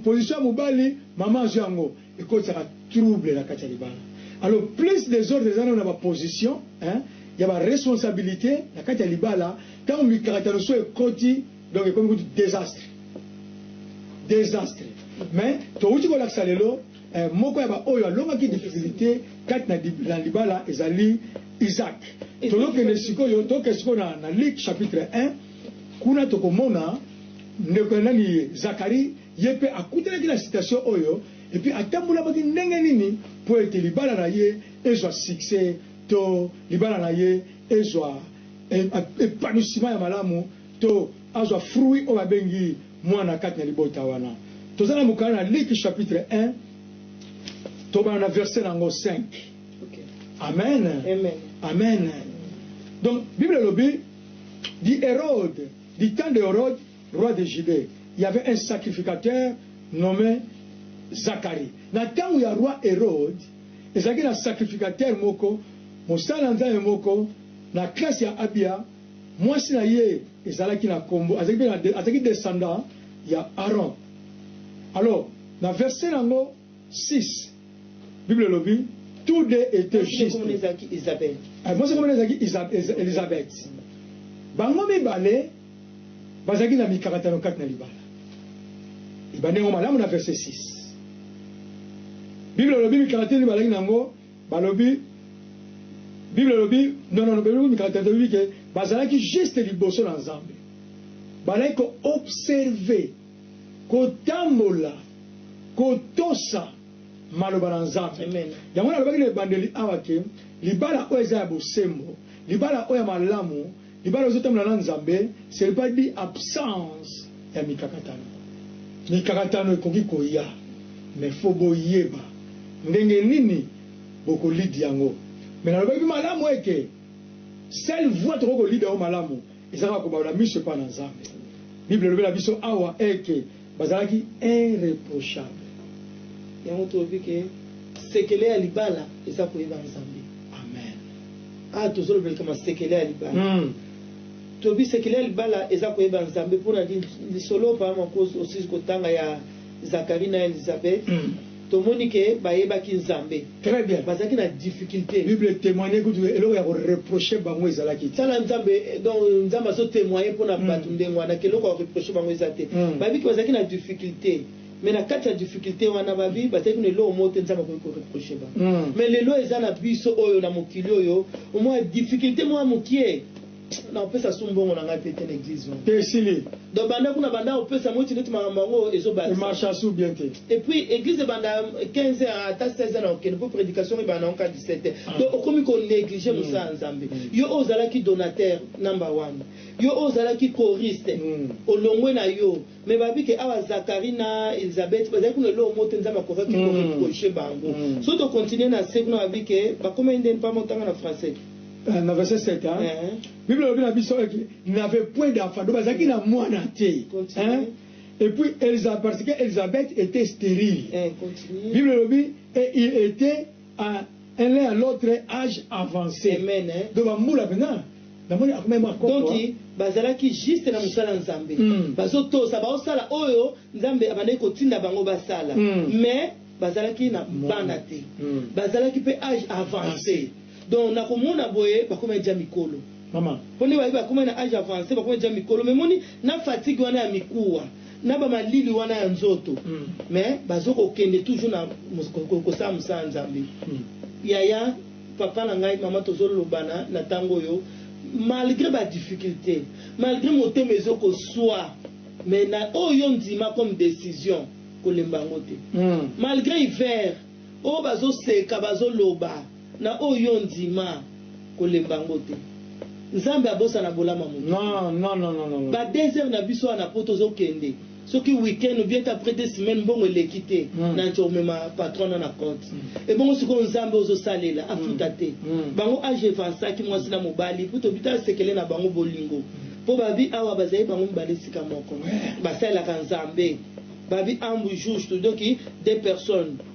position ya mobali maman azwi yango ekotisaka trouble na kati ya libala. Alors plus desordre eza nanu na ba position hein ya ba responsabilite na kati ya libala tango mikakatano so ekoti donc ekomi kutu desastre. Desastre mais towuti kolakisa lelo. Moko ya baoyo alongaki difficulite kati na libala ezali Isaac. Tozokende sikoyo, tokende sikoyo na Luc chapitre un, kuna tokomona ndeko ya nani ye? Zacharie, ye mpe akutanaki na situation oyo, et puis atambolamaki ndenge nini mpo ete libala na ye ezwa succès to libala na ye ezwa epanouissement ya malamu to azwa fruit oyo babengi Mwana kati na libota wana. Toza na mokanda na Liki chapitre 1, tobanda na verse na yango 5. Amen. Amen. Amen. Donc, Bible elobi, di Herode, di temps de Herode, roi de Judee, il y avait un sacrificateur nommé Zacharie. Na ntango ya roi Herode, ezalaki na sacrificateur moko, mosala nzambe moko, na classe ya Abia, Mwasi na ye ezalaki na kombo, azalaki mpe na, azalaki descendant ya Aaron. Alors, na verset na yango six, Bible elobi, Tous deux etaient justes. Mwasi na ye kombo na ye ezalaki Isabelle. Eh, mwasi na ye kombo na ye ezalaki Elisabeth. Bango mibale bazalaki na mikakatano kati na libala. Ebandi yango malamu na verset six. Bible elobi mikakatano nini bazalaki na yango. Balobi, Bible elobi, nonono belobi mikakatano toyebi ke bazalaki juste liboso na Nzambe. Bazalaki ko observer, kotambola, kotosa maloba na Nzambe. Yango nalobaki na ebandeli awa ke libala oyo eza ya bosembo, libala oyo ya malamu, Libala ozo tambola na Nzambe ce ne pas dit absence ya mikakatano. Mikakatano ekoki koya mais faut boyeba ndenge nini boko lead yango. Mais nalobaki malamu ete seule voie tokoki ko lead yango malamu ezaka kobalola miso epa na Nzambe. Bible elobi na biso awa eke. Bazalaki irreprochable yango tolobi ke sekele ya libala eza koyeba nzambe amen awa tozolobela likama sekele ya libala tolobi sekele ya libala eza koyeba nzambe pona lisolo papa makoz osizi kotanga ya zakari na elizabeth Tomoni que bayebaki Nzambe. Très bien. Bazalaki na difficulte. Bible e temoigner kutu eloko ya ko reprocher bango ezalaki te. Tala Nzambe, donc Nzambe azo temoigner pona batu ndenge wana que eloko ya ko reprocher bango eza te. Bayebi que bazalaki na difficulte mais na kati ya difficulte wana babi bazalaki na eloko moko te Nzambe akoki ko reprocher bango. Mais lelo eza na biso oyo na mokili oyo omona difficulte moko ya mukie, Nako pesa su mbongo na ngai pe te na eglise wana. Te esili. Donc banda kuna banda ko pesa moiti neti makambo yango ezo bakisa. Emarcha su bien te. Et puis eglise ebanda 15 heures ata 16 heures nako kende po predication ebanda nango kaka 17 heures. Donc okomi ko negliger mosala ya Nzambe. Yo oyo ozalaki donateur number one. Yo oyo ozalaki choriste olongwe na yo. Mais ba bike awa Zacharie na Elisabeth bazali kuna eloko moko te Nzambe akokaki ko reprocher bango. Soki to continuer na se kuna ba bike bakomaki ndeni papa moko tanga na français. Na verset 7 hein bible elobi na biso ete il n'avait point d'enfant donc bazalaki na mwana te hein et puis Elisa parce que Elisabeth etait sterile bible elobi et il etait a un l'un à l'autre age avance Amen, hein. donc ba mbula penza namoni akomaki mua koko Donc hein. bazalaki juste na mosala ya Nzambe. Hum. Bazotosa, baosala oyo Nzambe abandaki kotinda bango basala. Hum. Mais bazalaki na Mwana. bana te. Hum. Bazalaki pe age avance. Donc na komona boye bakomaki dejà mikolo. Mama. Po nde baye bakomaki na age avance, bakomaki dejà mikolo. Mais omoni na fatigue wana ya mikuwa. na ba malili wana ya nzoto mais bazo ko kende toujours na ko sala musala nzambe yaya papa na ngai mama tozo lobana na tango oyo malgre ba difficulte malgre motema ezo ko swa mais na oyo yo ndima comme decision ko lemba yango te malgre hiver oyo bazo seka bazo loba Na oyo yo ondima, kolemba yango te. Nzambe abosana bolama moto te. Non, non, non, non, non, non. Ba deux heures na biso awa na poto ozo kende, soki week-end ou bien ata après deux semaines mbongo eleki te, na nco omema patron wana na compte. Ebongo sikoyo Nzambe oyo ozo salela afuta te? Bango age evansaki mwasi na mobali mpo toyebi tala sekele na bango bolingo mpo babi awa bazali bango mibale esika moko basalelaka Nzambe babi ambu justu donc deux personnes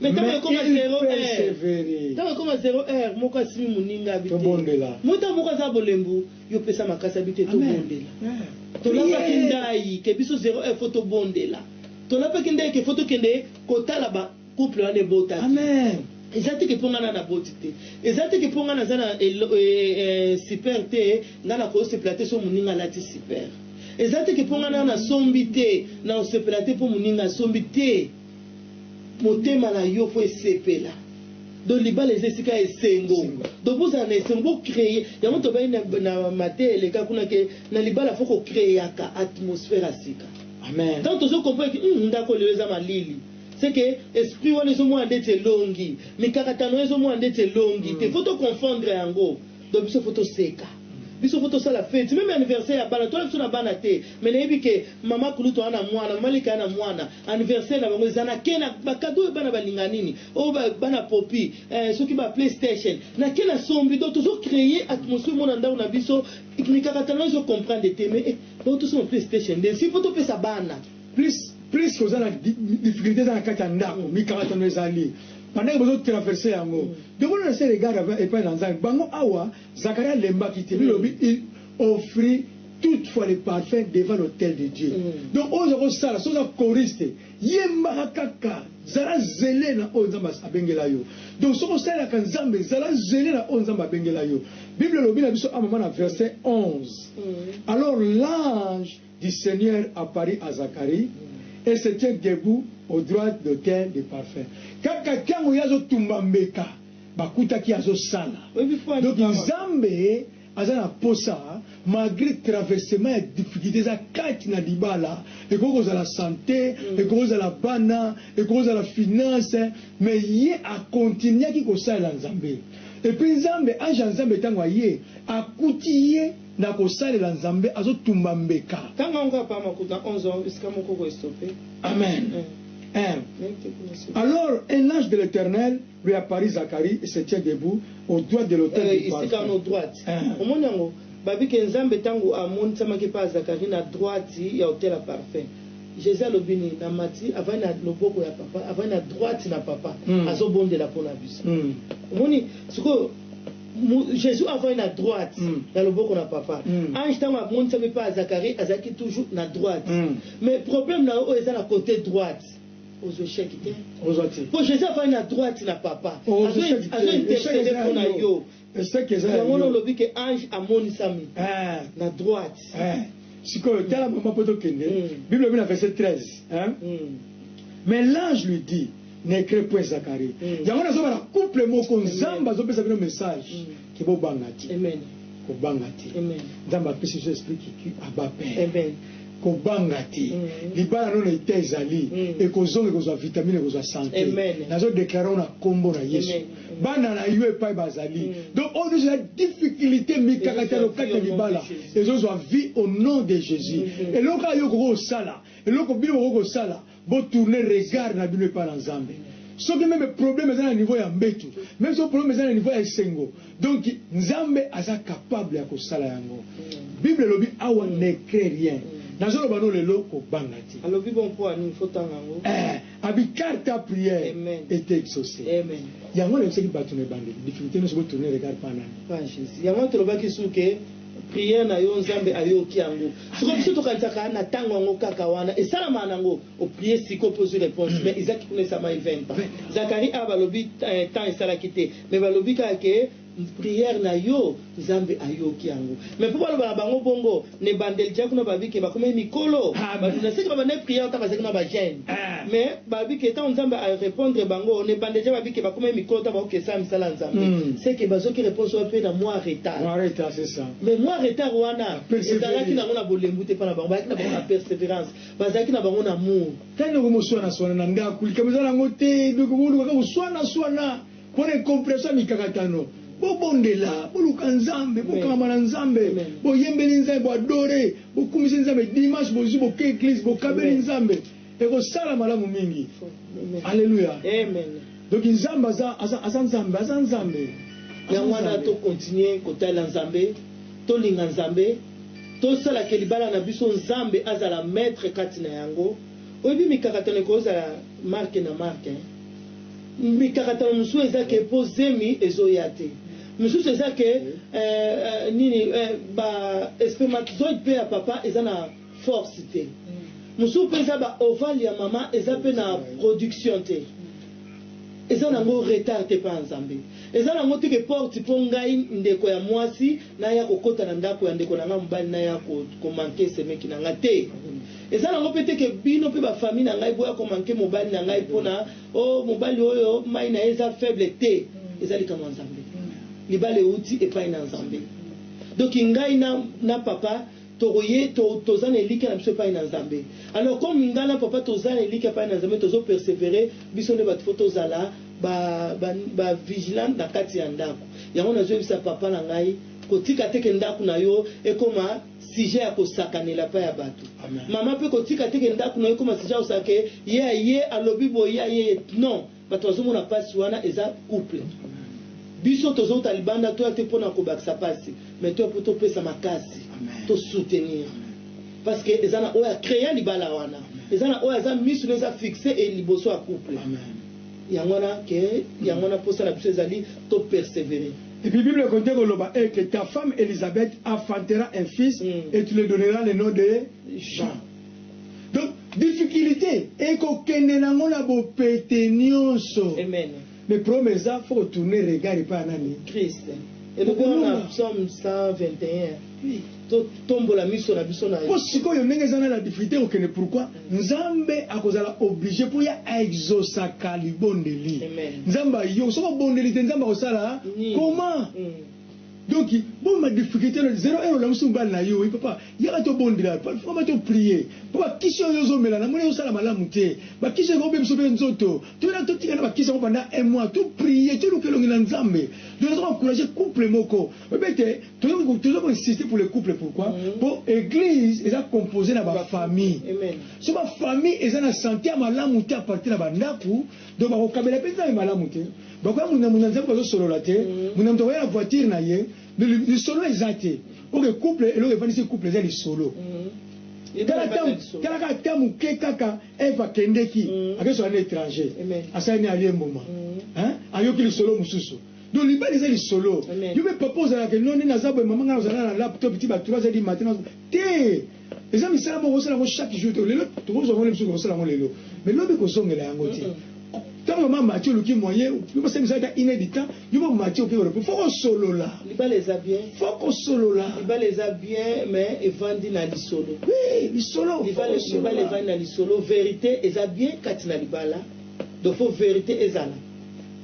Mais ntango Mais ekoma il zero heure. persevere. Ntango ekoma zero heure, moko asimi moninga abi te. Tobondela. Mota moko aza bolembu, yo pesa makasi abi te, Amen. tobondela. Yeah. Tolapaki Prière. ndai ke biso zero heure faut tobondela. Tolapaki ndai ke faut tokende kotala ba couple wana ebotaki. Amen. eza te ke mpo ngai na naboti te eza te ke mpo ngai naza na elo- eh, eh, super te ngai nakosepela te so moninga alati super eza te ke mpo ngai na nasombi te nakosepela te mpo moninga asombi te Motema na yo po esepela. Donc libala eza esika ya esengo. Donc bozala na esengo, bo creer. Yango tobaki na, na mateya eleka kuna ke na libala faut ko creaka atmosphère ya sika. Amen. Tango tozo comprendre ke hum ndako oyo lelo eza malili, c'est que esprit wana ezo mona ndeti elongi, mikakatano wana ezo mona ndeti elongi te. Faut to confondre yango. Donc biso faut toseka biso faut tosala feti meme anniversaire ya bana toya biso na bana te mais nayebi ke mama kulutu ana mwana mama leki ana mwana anniversaire na bango eza na ke na ba cadeau oyo bana balinga nini oyo oh, ba, bana popi eh, soki ba playstation na ke na sombi donc tozo créer atmosphere mona ndako na biso mikakatano ezo comprendre te mais eh, bautosoma playstation nde si faut topesa bana Plus plus oza na difficulte eza na kati ya ndako mikakatano ezali pendant que bozo traverser yango donc on laisse regard avant epai na nzambe bango awa Zacharie alembaki te bilobi il offrit toutefois le parfum devant l'autel de Dieu donc oza ko sala soki oza choriste yembaka kaka zala zele na oyo nzambe abengela yo donc soki osalelaka nzambe zala zele na oyo nzambe abengela yo bible elobi na biso a mama na verset 11 alors l'ange du Seigneur apparut à Zacharie, et se tient debout au droite d'autel de parfum. Kaka tango ye azo tumba mbeka, bakutaki azo sala. Donc Nzambe aza na posa malgre traversement ya difficulte eza kati na libala, ekoki kozala sante, ekoki kozala bana, ekoki kozala finance, mais ye a continuaki kosalela Nzambe. Et puis Nzambe, ange ya Nzambe tango aye, akuti ye. Na kosalela nzambe azo tumba mbeka. Tanga ngo papa makuta onze ans esika moko ko estope. Amen eeh alors un l'ange de l'eternel lui apparit Zacharie et se tient debout au droite de l'autel du parfum esika no droite eeh omoni yango babi ke nzambe tangu amonisamaki epa ya Zacharie na droite ya autel ya parfum Jesus alobi nini na mati avandi na loboko ya papa avandi na droite na papa azo bondela pona biso omoni sikoyo Jesus avandi na droite mm. na loboko na papa mm. ange ntango amonisami mpe azakari azalaki toujours na droite mm. mais problème na yo oyo eza na côté droite aux échecs te ozwa te mpo jésus afai na droite na papa azo intercede mpo na yo yango na olobi ke ange amonisami ah. na droite ah. sikoyo tala mama mpo tokende hmm. bible ebi na verset 13 hmm. mais l'ange lui dit Necre point Zacharie mm. yango nazo bala couple moko nzambe azo pesa bino message mm. ke bo banga te amen ko banga te amen nzambe apesi biso esprit qui qui aba père amen ko banga te mm. libala no na ete ezali mm. ekozonga ekozwa vitamine ekozwa sante nazo deklare na kombo na yesu bana na yo epai bazali mm. donc oyo nyonso ya difficulté mikakatano kati ya libala ezozwa vie au nom de jésus mm-hmm. eloko ayo okoki kosala eloko bino bokoki kosala Bo tourner regard na bino epa na Nzambe. Soki meme problème eza na niveau ya mbetu, meme soki problème eza na niveau ya esengo, donc Nzambe aza capable ya kosala yango. Bible elobi awa ne crains rien. Nazo loba no lelo ko banga te. Alobi bongo po ya nini faut tanga yango. Eh! Abi car ta prière Amen. est exaucee. Amen. Yango na yebisaki batu na ebandeli difficulte nionso bo tourner regard epa nani? Epa ya Jesus. Yango wana tolobaki sur que. Prière na yo nzambe ayoki yango sikoyo biso tokanisaka na tango yango kaka wana esalamaka nango o prier sikoyo pe ozui reponse mais Isaac kuna esalamaki 20 ans Zacharie awa balobi temps esalaki te mais balobi kaka ke prière na yo nzambe ayoki yango mais po baloba na bango bongo na ebandeli dejà kuna balobi ke bakomaki mikolo bato na seki babandaki prière ata bazalaki na ba jeune mais Ba bi ke tango Nzambe a repondre bango na ebanda dejà ba bi ke ba komaki mikolo tango ba ko ke sala misala ya Nzambe. Ce que ba zwaki reponse wana pe na mua retard. Mua retard c'est ça. Mais mua retard wana ezalaki nango na bolembu te epa na bango. Bazalaki na bango na perseverance. Bazalaki na bango na amour. Kani oko mo suana suana na ndaku likambo eza nango te donc bo luka kaka ko suana suana pona incomprehension ya mikakatano. Bo bondela, bo luka Nzambe, bo kangama na Nzambe, bo yembeli Nzambe, bo adorer, bo kumiseli Nzambe, dimanche bo zui bo ke eglise, bo kabeli Nzambe. Ekosala malamu mingi. Alleluia. Donc Nzambe aza, aza, aza Nzambe, aza Nzambe. Yango wana to continuer kotalela Nzambe, tolinga Nzambe, tosala que libala na biso Nzambe azala maitre kati na yango. Oyebi mikakatano ekozala marque na marque hein. Mikakatano mosusu eza que po zemi ezoya te. Mosusu eza que eh, eh, nini eh, ba espermatozoide pe ya papa eza na force te mosusu mpe eza ba ovale ya mama eza mpe na production te eza nango retard te pa nzambe eza nango te ke porte mpo ngai ndeko ya mwasi naya kokota na ndako ya ndeko na ngai mobali naya komanke semeki na ngai te eza nango mpe te ke bino mpe ba famille na ngai boya komanke mobali na ngai mpo na o oh, mobali oyo mai na ye eza faible te eza likambo ya nzambe libala euti epai na nzambe donki ngai na, na papa Toko ye to toza na elikia na biso epayi na nzambe alors comme nga na papa toza na elikia epayi na nzambe tozo persevere biso nde batu faut tozala ba ba ba vigilante na kati ya ndaku yango nazo yebisa papa na ngai kotika te ke ndaku na yo ekoma sujet ya kosakanela epayi ya batu maman pe kotika te ke ndaku na yo ekoma sujet ya kosaka ke ye aye alobi boye ye aye non Batu bazo mona pasi wana eza couple biso tozo wuta libanda toya te pona kobakisa pasi mais toya po topesa makasi to soutenir parce que eza na oyo a crea libala wana eza na oyo aza misu na eza fixe et liboso ya couple yango wana ke yango wana posa na biso ezali to perseverer Et puis Bible continue koloba et que ta femme Elisabeth enfantera un fils mm. et tu le donneras le nom de Jean. Donc difficulite eko kende na ngo na bo pete nionso. Amen. Mais problème eza faut ko tourner regard epa nani? Christ. Elobi na psaume 121. Oui. To tombola miso na biso na. Po sikoyo ndenge eza na la difficulté ko kende pourquoi? Nzambe akozala obligé po ya exaucer ka libondeli. Amen. Nzambe yo soko bondeli te Nzambe akosala comment? Mm. Donc bon ma difficulté na zero heure olamusi mobali na yo papa yaka to bondela papa to prier po ba kisi oyo ozo mela na moni ezo sala malamu te ba kisi eko bebisa pe nzoto to yaka to tika na ba kisi yango pendant un mois to prier to luka elongi na nzambe donc nazo encourager couple moko oyebi ete tozo tozo ko insister pour le couple pourquoi mm-hmm. po eglise eza composer na ba famille so ba famille eza na sante ya malamu te a partir na ba ndaku Donc bakokabela pe nzambe malamu te bakoya muna muna nzambe bazo solola te muna mutu akoya na voiture na ye lisolo eza te ok couple eloko evandisi couple eza lisolo tala tala kaka ta muke kaka eve akendeki akesola na étranger asali ni alie mbuma ayoki lisolo mosusu donc libala eza lisolo yo pe papa ozalaka enone naza boye mama ngai nazala na laptop ti ba 3 heures du matin te Eza misala moko osala yango chaque jour te lelo tokozwa yango lisusu okosala yango lelo mais lobi kozongela yango te tango mama mati oluki moyen yo basali misala ata une heure du temps yo mama mati oke kolopo faut kosolola libala eza bien faut kosolola libala eza bien mais evandi na lisolo oui lisolo libala libala evandi na lisolo verite eza bien kati na libala donc faut verite ezala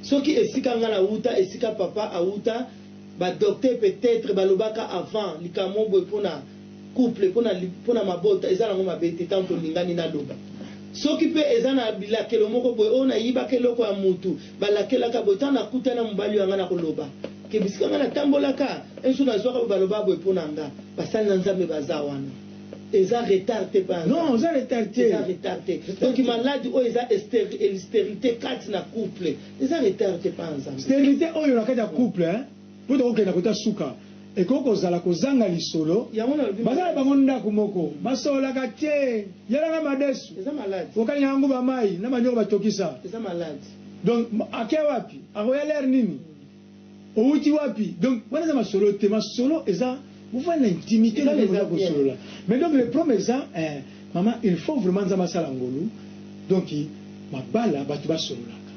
soki esika nga na wuta esika papa awuta ba docteur peut etre balobaka avant likambo boye pona couple pona pona mabota eza nango mabe te tango tolingani naloba soki pe eza na bilakelo moko boye oyo nayibaka eloko ya mutu balakelaka boye tango nakutani na mobali oyo ya nga nakoloba ke bisika nga natambolaka un jour nazuaka boye balobaka boye pona nga basali na nzambe baza wana eza retard te pa Non, oza retard te. eza retard te donc malade oyo eza esteril sterite kati na couple eza retard te pa nzambe Sterilite oyo na kati ya couple hein. Mpo tokokenda kota suka, ekoki kozala kozanga lisolo. Baza na bango ndaku moko, basololaka te. Yela nga madesu, okalinga nga nguba mayi na manioko batokisa. Donc ake wapi? Akoya l'heure nini? Owuti wapi? Donc wana eza masolo te. Masolo eza. Bovanda na intimite nde boza kosolola mais donc le problème eza eh mama il faut vraiment nzambe asala ngolu donc mabala batu basololaka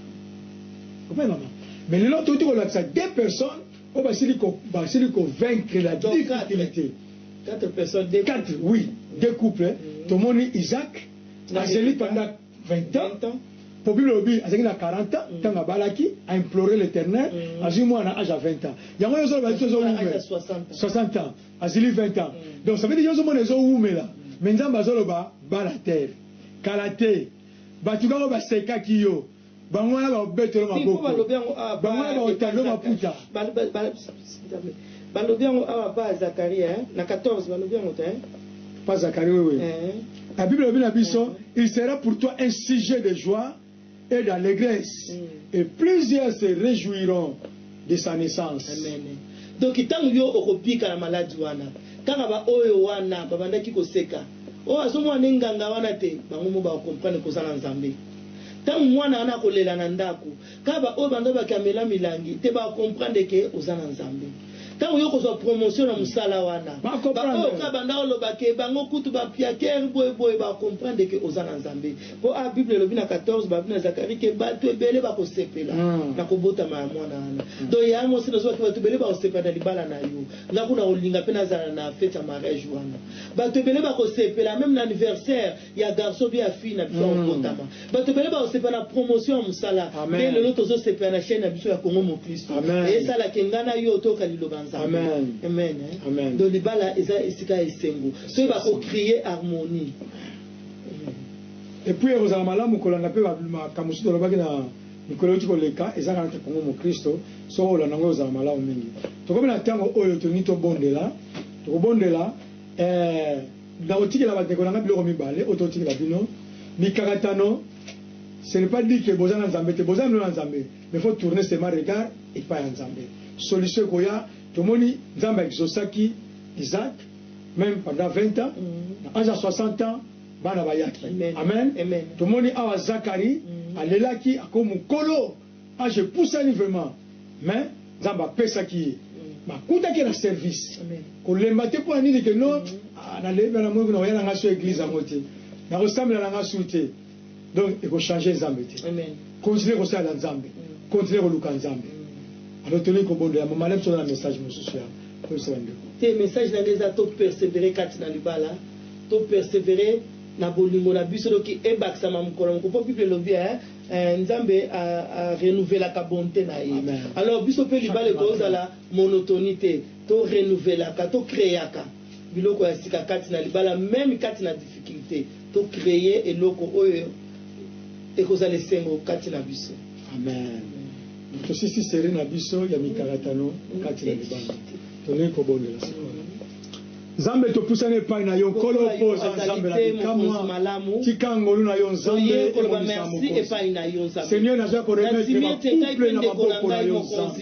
ope mama mais lelo touti kolakisa deux personnes oyo basili ko basili ko vaincre la difficulté quatre personnes quatre oui deux couples tomoni Isaac azeli pendant 20 ans po bible elobi azalaki na 40 ans mm. tango abalaki a implore l'Eternel mm. azui mwana age ya 20 ans yango yo ozoloba biso ezowumela 60 ans azili 20 ans mm. donc ça veut dire yo ozomona ezowumela mais Nzambe azoloba bala terre kala te bato kaka basekaki yo Bango wana bakobetelwa maboko, bango wana bakotalelwa maputa. Balobi yango awa pa Zacharie hein na 14 balobi yango te hein. Pa Zacharie oui oui. Eh. La Bible lobi na biso eh. il sera pour toi un sujet de joie et d'allégresse mm. et plusieurs se réjouiront de sa naissance. Amen donc tangu yo okobika na malade wana kaka ba oyo wana babandaki koseka oh azomona nde nganga wana te bango mo ba comprendre koza na nzambe tangu mwana wana akolela na ndaku kaka ba oyo banza bakamela milangi te ba comprendre ke oza na nzambe tangu yo kozwa promotion na musala wana ba oyo kaka banda oloba ke bango kutu ba piaker boye boye ba comprendre ke oza na nzambe Po awa bible elobi na 14 ba na Zacharie ke batu ebele bako sepela na ko botama ya mwana wana. Donc yaya mwasi na zua ke batu ebele bako sepela na libala na yo. Nga kuna nako linga pe na zala na fete ya mariage wana. Batu ebele bako sepela meme na anniversaire ya garçon ou bien ya fille na biso ako botama. Batu ebele bako sepela na promotion ya musala nde lelo tozo sepela na chaine na biso ya Congo Moklisto. Esala ke nga na yo toyoka liloba ya Nzambe. Amen hein. Donc libala eza esika ya esengo. To yeba ko creer harmonie. Et puis ekozala malamu kolanda pe ba makambo mosusu tolobaki na mikolo ewuti koleka, eza kaka te Congo mokristo, soki okolanda yango ekozala malamu mingi. Tokomi na tango oyo tolingi tobondela, tokobondela, ee, nakotikela ba ndeko na ngai biloko mibale oyo totikela bino, mikakatano, ce n'est pas dit que boza na Nzambe te, boza lelo na Nzambe, mais faut tourner seulement regard epayi ya Nzambe, solution ekoya, tomoni Nzambe a exaucaki Isaac, meme pendant 20 ans na age ya 60 ans bana bayaki amen tomoni awa zakari alelaki ako mukolo age epusani vraiment mais nzambe apesaki ye bakutaki na service kolemba te pona nini ke no na lembi na moyi kuna oya na nga su eglise yango te nakosambela na nga su te donc ekochange nzambe te continue kosalela nzambe continue koluka nzambe alors tolingi kobondela mama na biso na message mosusu ya koyebisa bandeko te message na ngai eza to persevere kati na libala to persevere na bolingo na biso doki ebakisama mokolo moko mpo bible elobi eh, eh, nzambe arenouvelaka bonte na ye alors biso mpe libala ekozala monotonie te to renouvelaka to creaka biloko ya sika kati na libala meme kati na difficulte to cree eloko oyo ekozala esengo kati na biso amen tosisi serie na biso ya mikakatano kati na libala tolingi kobondela sikoyo Nzambe topusani epai na yo Nkolo mpo oza Nzambe na bikamwa tika ngolu na yo Nzambe emonisa mokonzi Seigneur naza koremettre ba couple na maboko na yo Nzambe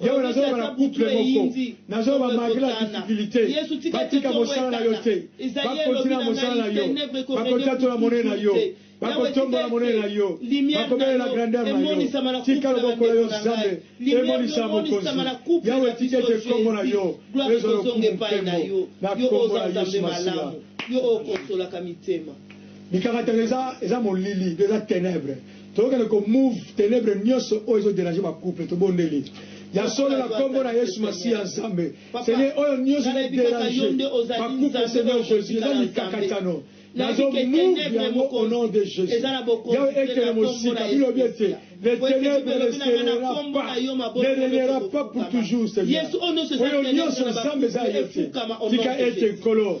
Yo na zoba na couple moko na zoba malgre la difficulite batika mosala na yo te bakontina na mosala na yo bakotatola monene na yo bakotombola monene na yo bakobelela grandeur na yo tika loboko na yo zambe emonisa mokonzi yawe tika ete nkombo na yo ezwa lokumu mpembo na nkombo na yesu masiya yo oyo okosolaka mitema mikakatano eza molili eza tenebre Tokende ko move tenèbres nioso oyo ezo deranger ba couple tobondeli ya solo na kombo na yesu masiya nzambe seigneur oyo nioso ezo deranger ba couple seigneur jesus eza mikakatano nazo move yango au nom de jesus yawe ekende mosika bilobi ete les tenèbres ne serera pas ne regnera pas pour toujours seigneur oyo nioso nzambe eza ya yo te tika ete nkolo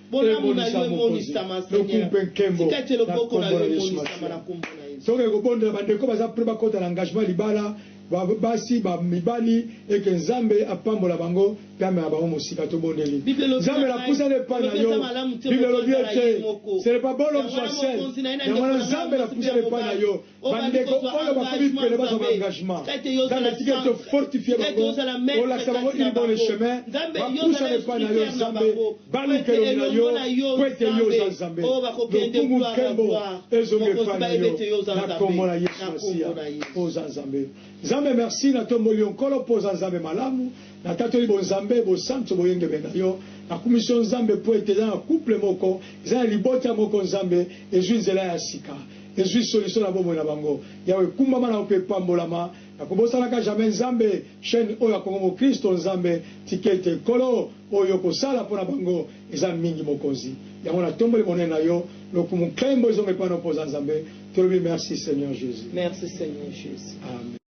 Bolamu na yo emonisama, Seigneur. Tika ete loboko na yo emonisama na nkombo na Yesu. Tokoki kobondela bandeko baza pret bakota na engagement ya libala, ba basi, ba mibali, et que Nzambe apambola bango mpe amema bango mosika. Tobondeli. Nzambe, napusani epai na yo. Bible elobi ete, Ce n'est pas bon l'homme soit seul. Yango wana, Nzambe, napusani epai na yo. bandeko oyo bakomi pene bazwa baengagement nzambe etika ete ofortifie bango olakisa bango une bonne chemin bapusana epai na yo nzambe baluka elongi na yo mpo ete yo oza nzambe lokumu nkembo ezonga epai na yo na nkombo na yesu masiya mpo oza nzambe nzambe merci natomboli yo nkolo mpo oza nzambe malamu natatoli bonzambe bosantu boyengebe na yo nakumisi yo nzambe mpo ete eza na couple moko eza na libota moko nzambe ezwi nzela ya sika ezui solution na bomoi na bango. Yawe ekumbama na yo pe epambolama na kobosanaka jamais Nzambe chaine oyo ya Congo mokristo Nzambe tikeitekei Nkolo oyo okosala mpo na bango eza mingi mokonzi yango na tomboli monene na yo lokumu nkembo ezonga epai na yo mpo oza Nzambe tolobi merci seigneur Jesus. Merci seigneur Jesus. Amen.